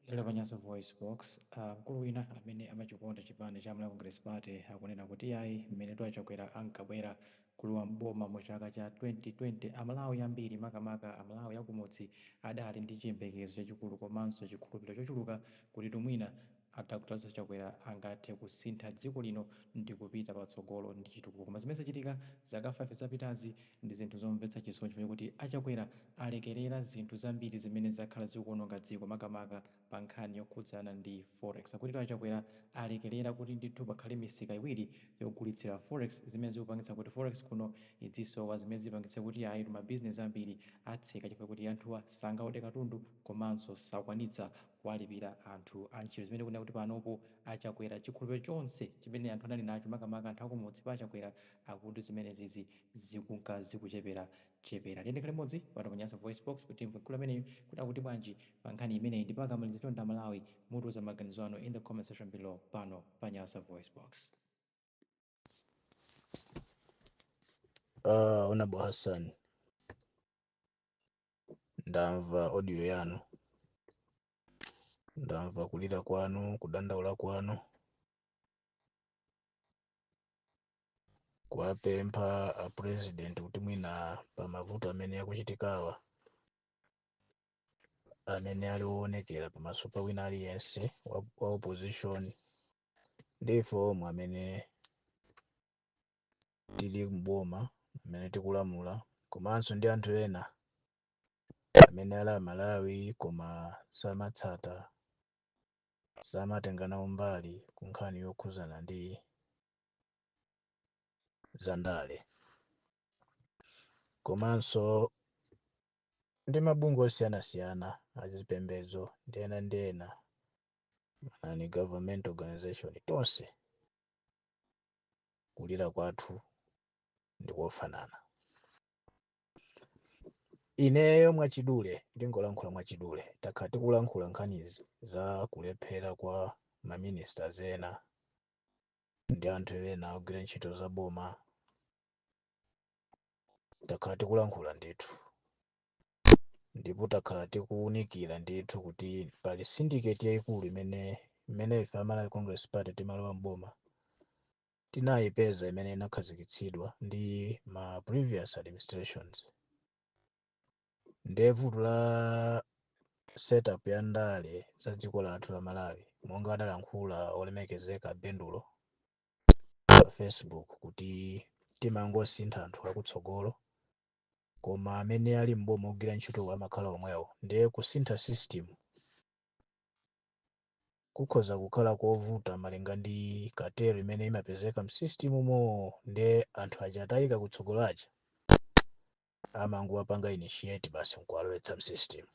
Lero pa Nyasa VoiceBox, mkulu wina amene amachikonda chipani cha Malawi Congress Party akunena kuti iyayi mmenetu a Chakwera ankabwera kulowa m'boma mu chaka cha 2020, a Malawi ambiri makamaka a Malawi a kumudzi adali ndi chiyembekezo chachikulu komanso chikhulupiliro chochuluka kutitu mwina a Dr Chakwera angathe kusintha dziko lino ndikupita patsogolo ndi chitukuko koma zimene zachitika zaka 5 zapitazi Ndi zinthu zomvetsa chisoni chifukwa chakuti a Chakwera alekelera zinthu zambiri zimene zakhala zikuononga dziko makamaka pa nkhani yokhudzana ndi Forex. Akuti a Chakwera alekelera kuti ndithu pakhale misika iwiri yogulitsira Forex zimene zikupangitsa kuti Forex kuno izisowa zimene zipangitse kuti ayitu ma business ambiri atseka chifukwa chakuti anthuwa sangaode katundu komanso sakwanitsa kuwalipira anthu antchito zimene akunena kuti panopo a Chakwera chikhulupiliro chonse chimene anthu anali nacho makamaka anthu akumudzi pa a Chakwera akuti zimenezizi zikunka zikuchepera chepera. Tiyendekhale limodzi pano pa Nyasa VoiceBox kuti timve mkulu ameneyu kuti akuti bwanji pa nkhani imeneyi ndipo akamaliza chonde a Malawi mutiuza maganizo anu in the comment section below pano pa Nyasa VoiceBox. Uh, Honorable Hassan, ndamva audio yanu, ndamva kulira kwanu, kudandaula kwanu. kuwapempha a president kuti mwina pa mavuto amene akuchitikawa amene ali owonekera pamaso pa wina aliyense wa, wa opposition ndi ife omwe amene tili mboma amene tikulamula komanso ndi anthu ena amene ali amalawi koma samatsata samatenga nawo mbali ku nkhani yokhudzana ndi za ndale komanso ndi mabungwe osiyanasiyana azipembedzo ndi ena ndi ena a non government organization tonse kulira kwathu ndi kofanana ineyo mwachidule ndingolankhula mwachidule takhala tikulankhula nkhanizi za kulephera kwa maministers ena ndi anthu ena ogwira ntchito za boma takhala tikulankhula ndithu ndipo takhala tikuwunikira ndithu kuti pali syndicate yayikulu imene imene ife a Malawi Congress Party timalowa mboma tinayipeza imene inakhazikitsidwa ndi ma previous administrations ndiye vuto la setup ya ndale za dziko lathu la malawi monga adalankhula olemekezeka bendulo pa facebook kuti timangosintha anthu akutsogolo koma amene ali m'boma ogwira ntchito amakhala omwewo ndiye kusintha system kukhoza kukhala kovuta malinga ndi cartel imene imapezeka msystem umo ndiye anthu aja atayikidwa kutsogolo aja amangowapanga initiate basi nkuwalowetsa msystem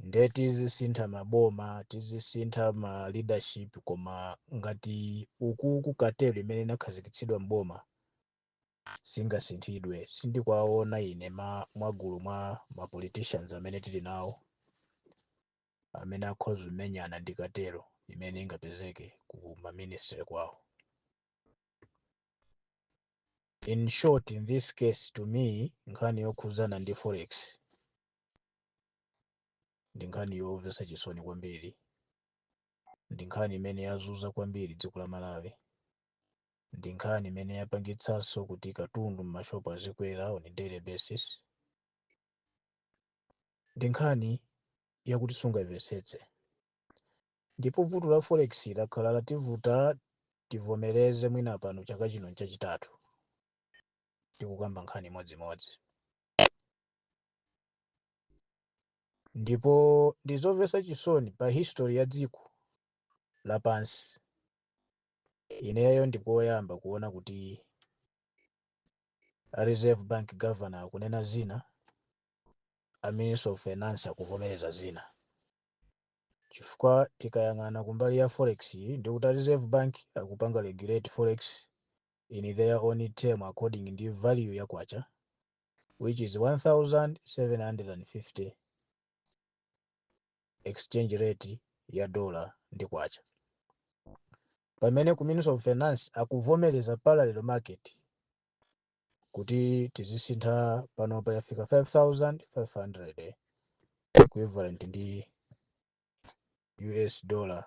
nde tizisintha maboma tizisintha ma leadership koma ngati ukuku cartel imene inakhazikitsidwa mboma singasinthidwe sindikwaona ine ma mwagulu mwa ma politicians amene tili nawo amene akhoza kumenyana ndi cartel imene ingapezeke ku ma ministry kwawo in short in this case to me nkhani yokhudzana ndi forex ndi nkhani yomvetsa chisoni kwambiri ndi nkhani imene yazunza kwambiri dziko la malawi ndi nkhani imene yapangitsanso kuti katundu m'mashopu azikwera on a daily basis ndi nkhani yakuti sungayimvetsetse Ndipo vuto la forex lakhala lativuta tivomereze mwina pano chaka chino nchachitatu tikukamba nkhani imodzimodzi. Ndipo ndizomvetsa chisoni pa history ya dziko lapansi ineyo ndikoyamba kuona kuti a Reserve Bank Governor akunena zina, a Minister of Finance akuvomereza zina. chifukwa tikayang'ana kumbali ya forex yi ndikuti a Reserve Bank akupanga regulate forex in their own term according ndi value ya kwacha which is 1750 exchange rate ya dollar ndi kwacha pamene ku Ministry of Finance akuvomereza parallel market kuti tizisintha pano payafika 5500 equivalent ndi us dollar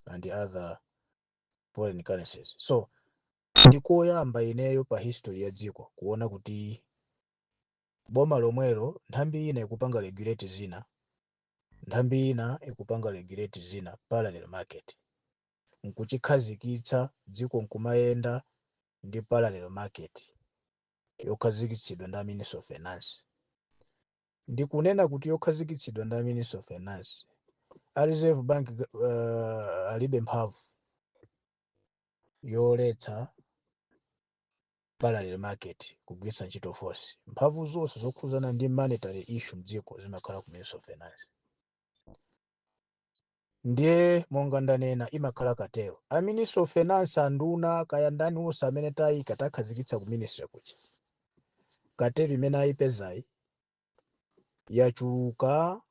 and other foreign currencies so ndikoyamba ineyo pa history ya dziko kuona kuti boma lomwelo nthambi ina ikupanga regulate zina nthambi ina ikupanga regulate zina parallel market nkuchikhazikitsa dziko nkumayenda ndi parallel market yokhazikitsidwa ndi a Ministry of Finance. Ndikunena kuti yokhazikitsidwa ndi a Ministry of Finance, a Reserve Bank uh, alibe mphamvu yoletsa parallel market kugwiritsa ntchito force. Mphamvu zonse zokhudzana ndi monetary issue mdziko zimakhala ku Ministry of Finance. Ndiye monga ndanena imakhala cartel. A ministry of finance anduna kaya ndani onse amene taika takhazikitsa ku ministry kuja. Cartel imene ayipezayi yachuluka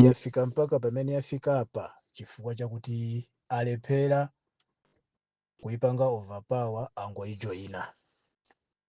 yafika mpaka pamene yafika apa chifukwa chakuti alephera kuipanga overpower angoijoyina.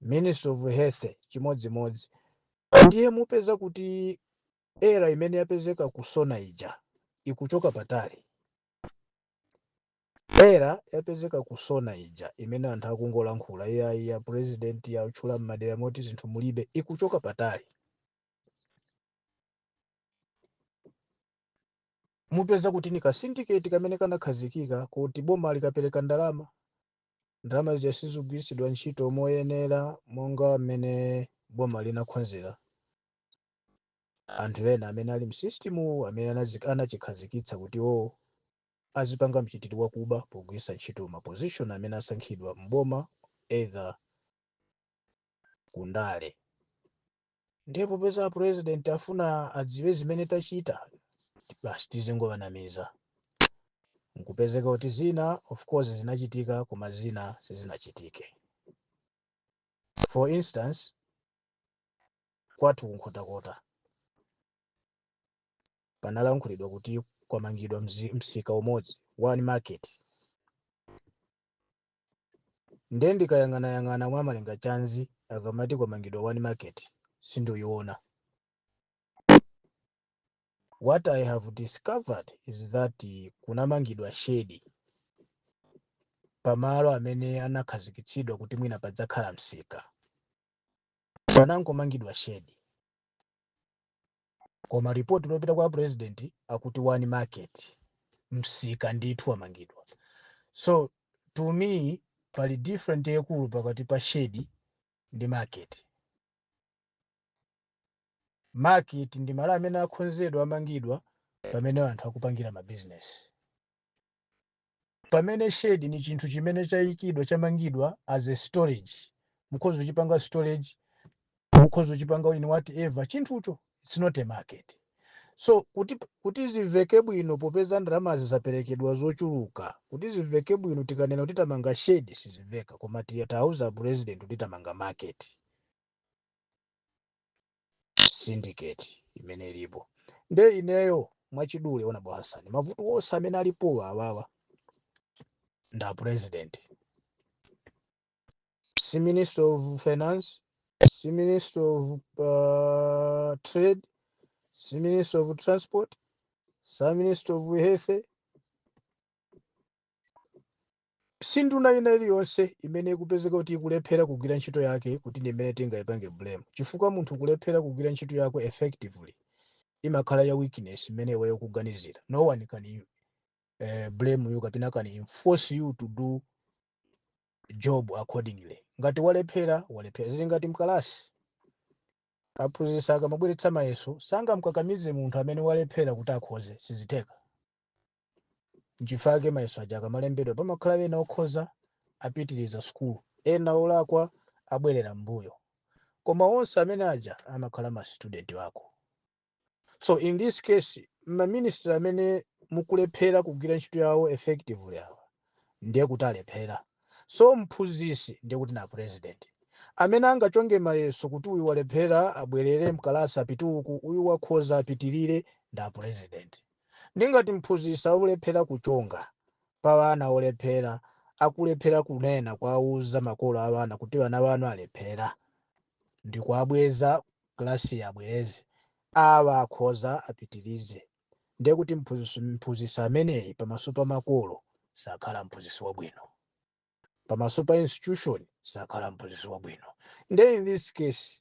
ministry of health chimodzimodzi ndiye mupeza kuti error imene yapezeka ku SONA ija ikuchoka patali error yapezeka ku SONA ija imene anthu akungolankhula iyayi ya president yatchula m'madera moti zinthu mulibe ikuchoka patali mupeza kuti ndi ka syndicate kamene kanakhazikika kuti boma likapereka ndalama ndalama zija sizigwiritsidwa ntchito moyenera monga mmene boma linakhonzera anthu ena amene ali m'system amene anazi- anachikhazikitsa kuti iwo azipanga mchitidwe wakuba pogwiritsa ntchito ma position amene asankhidwa m'boma either kundale ndiye popeza apurezidenti afuna adziwe zimene tachita basi tizingowanamiza nkupezeka kuti zina of course zinachitika koma zina sizinachitike for instance kwathu ku Nkhotakota panalankhulidwa kuti kwamangidwa mzi- msika umodzi one market Nde ndikayang'anayang'ana mwa Malengachanzi akamati kwamangidwa one market sindiyiona. What I have discovered is that kunamangidwa shedi pamalo amene anakhazikitsidwa kuti mwina padzakhala msika. Panangomangidwa shedi. Koma report lopita kwa a president akuti one market msika ndithu wamangidwa. So to me pali different yaikulu pakati pa shedi ndi market. Market ndi malo amene akhonzedwa amangidwa pamene anthu akupangira ma business. pamene shed ni chinthu chimene chayikidwa chamangidwa as a storage mukhoza kuchipanga storage mukhoza kuchipanga in whatever chinthucho it's not a market so kuti zimveke bwino popeza ndalama zisaperekedwa zochuluka kuti zimveke bwino tikanena kuti tamanga shed sizimveka koma titawauza apresident kuti tamanga market syndicate imene ilipo nde ineyo mwachidule ona bwa Hassan mavuto onse amene alipo awawa nda president si minister of finance si minister of uh, trade si minister of transport si minister of health Si nduna ina iliyonse imene ikupezeka kuti ikulephera kugwira ntchito yake kuti ndi imene tingaipange blame chifukwa munthu kulephera kugwira ntchito yako effectively imakhala ya weakness imene iweyo ukuganizira. No one can eh, blame you kapena can enforce you to do job accordingly. Ngati walephera, walephera. Zili ngati mkalasi. Aphunzitsi akamabweretsa mayeso sangamkakamize munthu amene walephera kuti akhoze, sizitheka. nchifukwa chake mayeso aja akamalembedwa pamakhala ena okhoza apitiriza sukulu ena olakwa abwerera m'mbuyo koma onse amene aja amakhala ma student ako so in this case ma minister amene akulephera kugwira ntchito yawo effectively awa ndiye kuti alephera so mphunzisi ndiye kuti nda president amene angachonge mayeso kuti uyu walephera abwerere mkalasi apite uku uyu wakhoza apitirire nda president Nde ngati mphunzisi akulephera kuchonga pa wana olephera akulephera kunena kuwauza makolo a wana kuti wana wanu alephera ndikuabweza class abwereze awa akhoza apitirize nde kuti mphunzisi ameneyi pamaso pa makolo sakhala mphunzisi wabwino. pamaso pa institution sakhala mphunzitsi wabwino nde in this case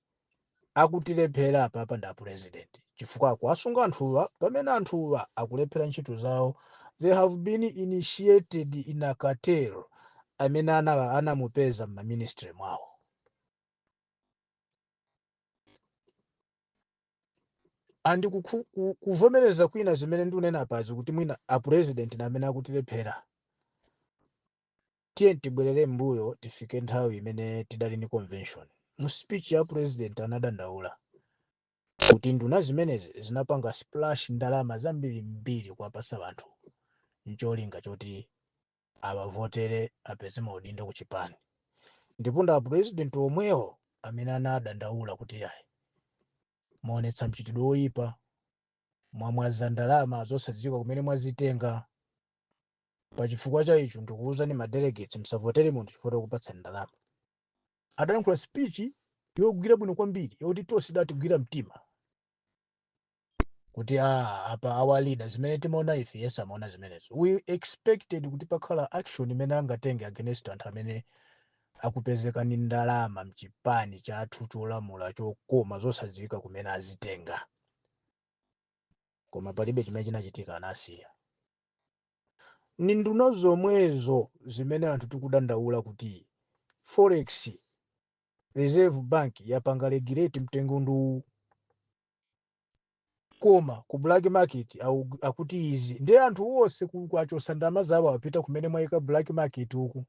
akutilephera apapa ndi apresident chifukwa akuwasunga anthuwa pamene anthuwa akulephera ntchito zawo they have been initiated in a cartel amene ana- anamupeza m'maministry mwawo andi kukhu- ku- kuvomereza kwina zimene ndikunena apazi kuti mwina apresident ndi amene akutilephera Tiyeni tibwelere mmbuyo tifike nthawi imene tidali ndi convention. Mu speech ya president anadandaula kuti nduna zimenezi zinapanga splash ndalama zambirimbiri kuwapatsa anthu ncholinga choti awavotere apeze maudindo ku chipani ndipo ndi a president omwewo amene anadandaula kuti ayi mwaonetsa mchitidwe woyipa, mwamwaza ndalama zosadziwika kumene mwazitenga. pachifukwa cha icho ndikuwuzani ma delegates msavotere munthu chifukwa chokupatsani ndalama adalankhula speech yogwira bwino kwambiri yoti tonse idatigwira mtima kuti a apa our leader zimene timaona ife iyeso amaona zimenezi we expected kuti pakhala action imene angatenge against anthu amene akupezeka ndi ndalama mchipani chathu cholamula chokoma zosadziwika kumene azitenga koma palibe chimene chinachitika anasiya Ni nduna zomwezo zimene anthu tikudandaula kuti Forex, Reserve Bank yapanga regulate mtengo ndi uwu. Koma ku black market au- akuti izi. Ndiye anthu onse akachotsa ndalama zawo apita kumene mwaika black market uku.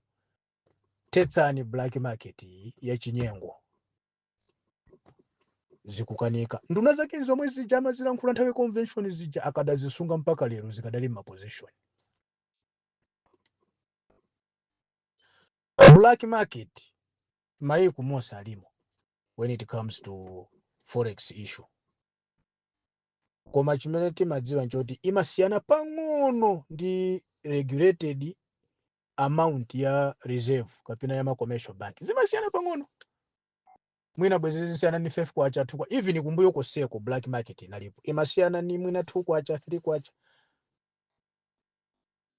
Thetsani black market iyi yachinyengo. zikukanika nduna zake zomwe zija amazilankhula nthawi convention zija akadazisunga mpaka lero zikadali m'maposition black market maiko monse ilimo when it comes to forex issue koma chimene timadziwa nchoti imasiyana pang'ono ndi regulated amount ya reserve kapena ya ma commercial bank zimasiyana pang'ono mwina bwezi zikusiyana ni 5 kwacha 2 kwa even kumbuyo koseko black market inalipo imasiyana ni mwina 2 kwacha 3 kwacha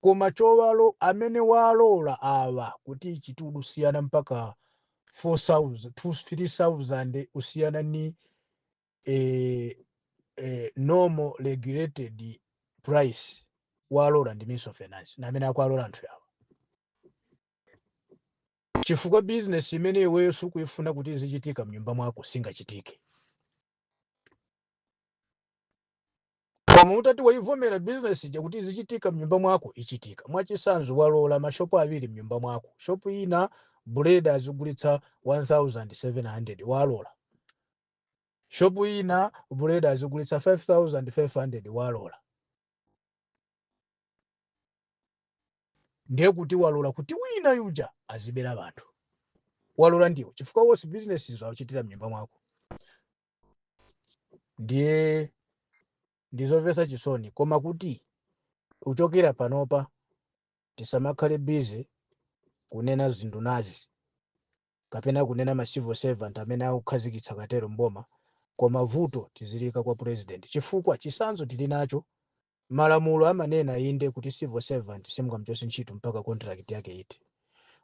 koma chawalola amene walola awa kuti ichite kusiyana mpaka 4000 3000 kusiyana ni eh, eh, normal regulated price walola ndi minister of finance ndi amene akuwalola anthu awo chifukwa business imene iweyo sukuifuna kuti izichitika mnyumba mwako singachitike koma utati waivomera business ija kuti izichitika mnyumba mwako ichitika mwachisanzo walola mashopu awiri mnyumba mwako shopu ina buledi azigulitsa 1700 walola shop ina buledi azigulitsa 5500 walora ndiye kuti walora kuti wina yuja azibera bantu walora ndiwo chifukwa wose business izo akuchitira mnyumba mwako ndiye ndizovesa chisoni koma kuti kuchokera panopa tisamakhale busy kunena zinduna izi kapena kunena ma civil servant amene akukhazikitsa cartel m'boma koma vuto tiziliyika kwa president chifukwa chisanzo tilinacho malamulo amanena inde kuti civil servant simungamuchose ntchito mpaka contract yake ithe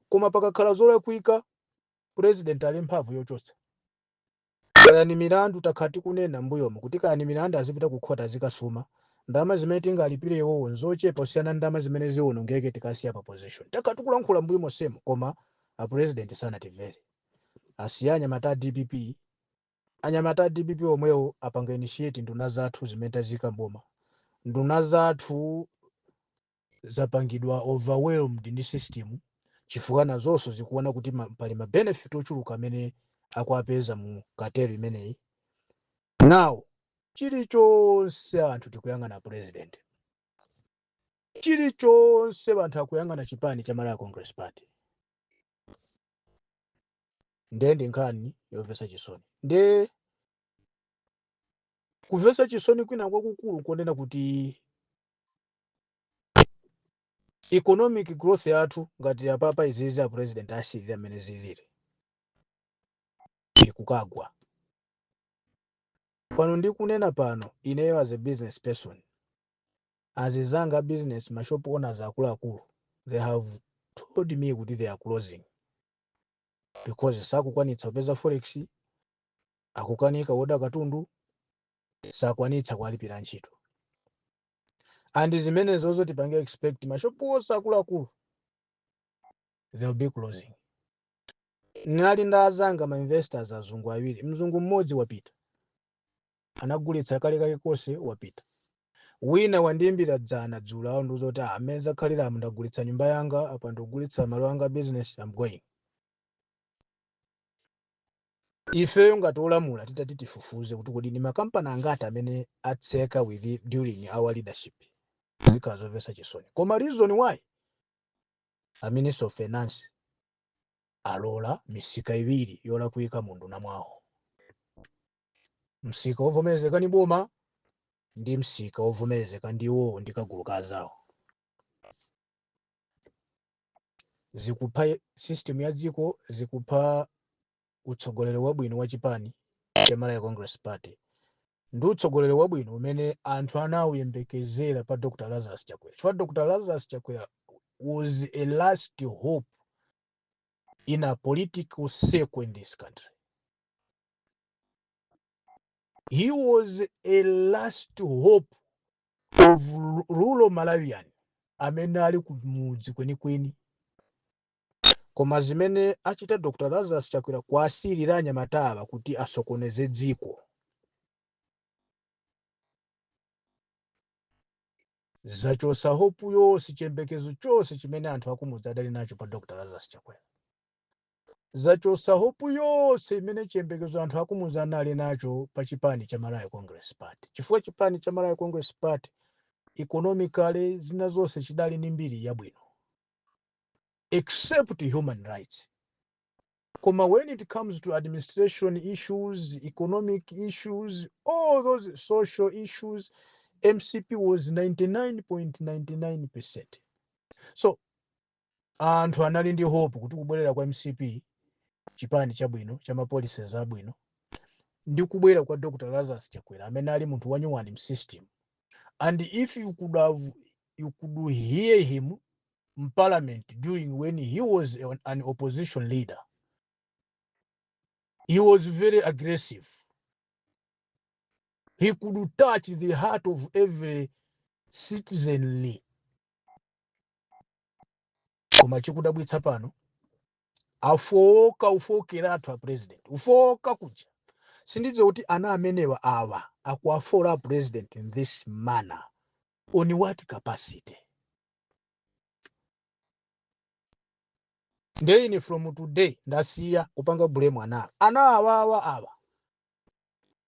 koma pakakhala zolakwika president ali mphamvu yochotsa. Kaya ni milandu takhala tikunena m'mbuyomu kuti kaya ni milandu azipita ku khoti azikasuma, ndalama zimene tingalipile iwowo n'zochepa kusiyana ndi ndalama zimene ziwonongeke tikasiya pa position. Takhala tikulankhula m'mbuyo monsemu koma a president sanatimvere. Asiye anyamata a dpp, anyamata a dpp omwewo apanga initiate nduna zathu zimene taziyika m'boma. Nduna zathu. zapangidwa overwhelmed ndi system chifukwa nazonso zikuona kuti ma, pali ma benefit ochuluka amene akuwapeza mu cartel imeneyi now chilichonse anthu tikuyang'ana president chilichonse anthu akuyang'ana chipani cha malawi congress party nde ndi nkhani yomvetsa chisoni nde kumvetsa chisoni kwina kwakukulu nkonena kuti economic growth yathu ngati apapa izizi a president asiyira mmene ziliri ikukagwa pano ndikunena pano ineyo as a business person azizanga a business mashop owners akuluakulu they have told me kuti they are closing because sakukwanitsa kupeza forex akukanika woda katundu sakukwanitsa kuwalipira antchito and zimenezozo tipange expect mashopu onse akuluakulu they'll be closing ndinali ndi azanga ma investors azungu awiri mzungu mmodzi wapita anagulitsa kale kake konse wapita wina wandiimbira dzana dzulo wandiuza kuti ah, mmene zakhaliramu ndagulitsa nyumba yanga apa ndikugulitsa malo anga a business I'm going ifeyo ngati olamula titati tifufuze kuti kodi ndi makampani angati amene atseka with during our leadership zikhala zomvetsa chisoni koma reason why a minister of finance alola misika iwiri yolakwika mu unduna mwawo msika wovomerezeka ni boma ndi msika wovomerezeka ndi iwowo ndi kagulu ka anzawo zikupha system ya dziko zikupha utsogoleri wabwino wa chipani cha malawi congress party ndi utsogoleri wabwino umene anthu anawuyembekezera pa dr lazarus chakwera chifukwa dr lazarus chakwera was a last hope in a political circle in this country he was a last hope of rural malawian amene ali kumudzi kwenikweni koma zimene achita dr lazarus chakwera kuwasiyira anyamatawa kuti asokoneze dziko zachotsa hopu yonse chiyembekezo chonse chimene anthu akumudzi adali nacho pa dr lazarus chakwera zachotsa hope yonse imene chiyembekezo anthu akumuzi anali nacho pa chipani cha Malawi Congress Party chifukwa chipani cha Malawi Congress Party economically zina zonse chidali ndi mbiri yabwino except human rights koma when it comes to administration issues economic issues all those social issues mcp was 99.99% so anthu anali ndi hope kuti kubwerera kwa mcp chipani chabwino cha ma policies abwino ndi kubwera kwa dr lazarus chakwera amene ali munthu wanyuwani msystem and if you could hear him mparliament during when he was an opposition leader he was very aggressive he could touch the heart of every citizenry koma chikudabwitsa pano afowoka kufowokera athu a president kufowoka kuja sindidziwa kuti ana amenewa awa akuwafola a president in this manner on what capacity nde ine from today ndasiya kupanga bulemu ana ana awawa awa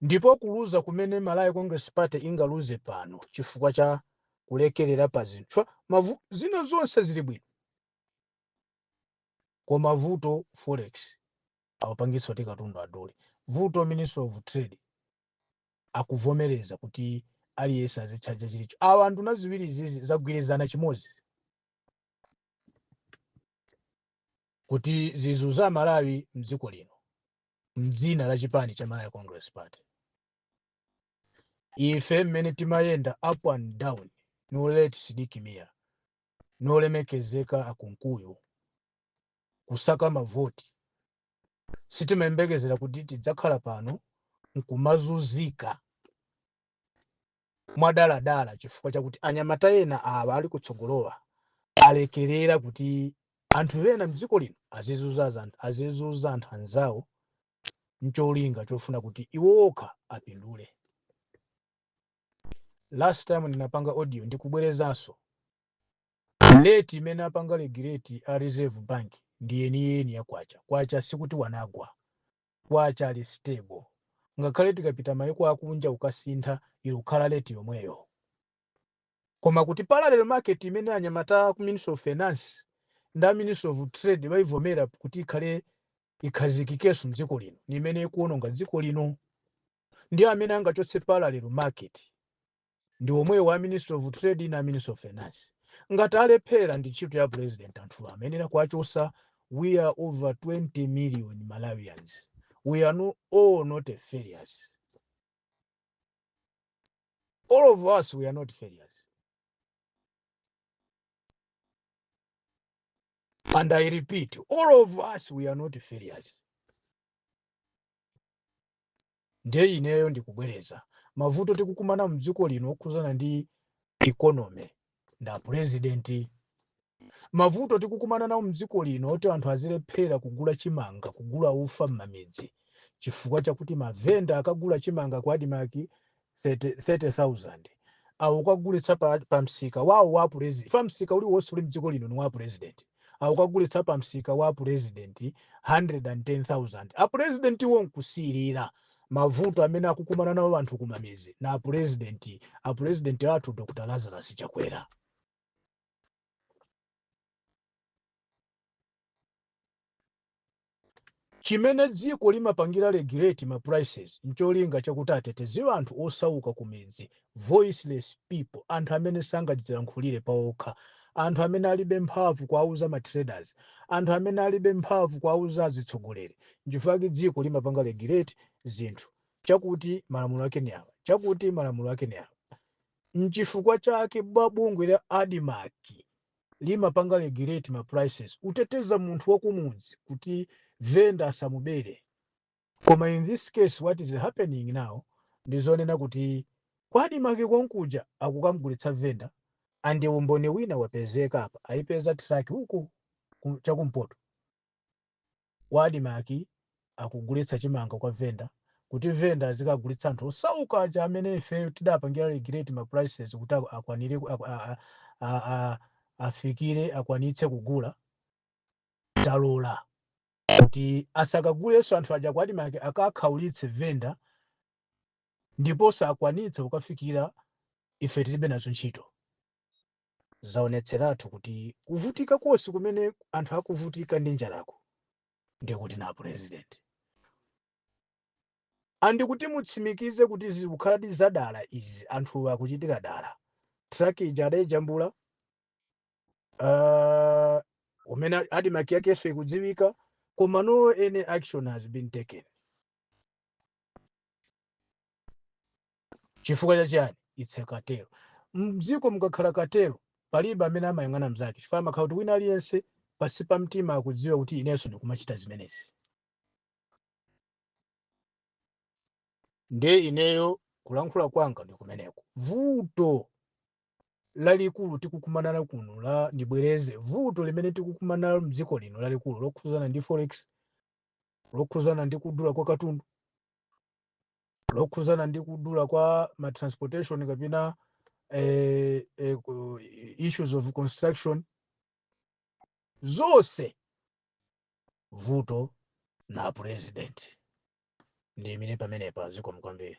Ndipo kuluza kumene Malawi Congress Party ingaluze pano chifukwa cha kulekelera pa zinthu zina zonse zili bwino koma vuto forex awapangitsa kuti katundu adule, vuto Ministry of Trade akuvomereza kuti aliyense azitchaja chilicho. Awa nduna ziwiri izizi zagwirizana chimodzi kuti zizunza Malawi mdziko lino. mdzina la chipani cha Malawi Congress Party ife mmene timayenda up and down ndi late Sidik Mia ndi olemekezeka a Kunkuyu kusaka mavoti sitimayembekezera kuti tidzakhala pano nkumazunzika mwadaladala chifukwa chakuti anyamata ena awa ali kutsogolowa alekerera kuti anthu ena mdziko lino azizuza anthu anzawo ncholinga chofuna kuti iwo okha apindule last time ndinapanga audio ndikubwerezanso leti imene apanga regulate a reserve bank ndi yeniyeni ya kwacha kwacha sikuti wanagwa kwacha ali stable. Ngakhale tikapita maiko akunja ukasintha ikukhala rate yomweyo. Koma kuti parallel market imene anyamata a ku Ministry of Finance ndi a Ministry of Trade aivomera kuti ikhale ikhazikikeso mdziko lino ni imene ikuononga dziko lino. Ndi amene angachotse parallel market. ndi omwewo a ministry of trade ndi a ministry of finance ngati alephera ndi ntchito ya president anthuwa amayenera kuwachosa we are over 20 million malawians we are all not failures all of us we are not failures and i repeat all of us we are not failures Ndiye ineyo ndikubwereza mavuto tikukumana mdziko lino okhuzana ndi economy nda president. Mavuto tikukumana nawo mdziko lino oti anthu azilephera kugula chimanga, kugula ufa mmamidzi chifukwa chakuti ma venda akagula chimanga ku admarc 30000 akukagulitsa pa msika wawo wa apulezidenti chifukwa msika uliwonse uli mdziko lino ni wa apulezidenti. akukagulitsa pa msika wa apulezidenti 110,000. Apulezidentiwo n'kusekerera. Mavuto amene akukumana nawo anthu kumamizi na apulezidenti, apulezidenti athu Dr Lazarus Chakwera. Chimene dziko limapangira regulate ma prices ncholinga chakuti ateteze anthu osauka kumidzi, voiceless people, anthu amene sangadzilankhulire paokha, anthu amene alibe mphamvu kuwauza ma traders, anthu amene alibe mphamvu kuwauza azitsogoleri, nchifukwa chake dziko limapanga regulate zinthu, chakuti malamulo ake ni awa, chakuti malamulo ake ni awa. Nchifukwa chake bungwe la Admarc limapanga regulate ma prices kuteteza munthu wakumudzi kuti vendor asamubere koma in this case what is happening now ndi zonena kuti kwa admarc konkuja akukamgulitsa vendor and umboni wina wapezeka apa aipeza truck uku chakumpoto kwa Admarc akugulitsa chimanga kwa vendor kuti vendor azikagulitsa anthu osauka aja amene ife tidapangira regulate ma prices kuti akwanire afikire akwanitse kugula talola kuti asakagulenso anthu aja kwa Admarc akakhaulitse vendor ndipo sakwanitsa kukafikira ife tilibe nazo ntchito. zaonetseratu kuti kuvutika konse kumene anthu akuvutika ndi njalako ndiye kuti ndi a president andi kuti mutsimikize kuti zikukhaladi zadala izi anthu akuchitira dala traki ija adayijambula uh, umene Admarc yakenso ikudziwika koma no any action has been taken Chifukwa cha chiyani? Its a cartel. Mdziko mukakhala cartel palibe amene amayang'ana mzake chifukwa amakhala kuti wina aliyense pansi pa mtima akudziwa kuti inenso ndikumachita zimenezi. Ndiye ineyo kulankhula kwanga ndi kumeneko. Vuto lalikulu tikukumana nalo kuno la ndibwereze vuto limene tikukumana nalo mdziko lino lalikulu lokhuzana ndi forex lokhuzana ndi kudula kwa katundu lokhuzana ndi kudula kwa ma transportation kapena eh, eh, ku- issues of construction zonse vuto ndi a president ndiime pamenepa zikomo kwambiri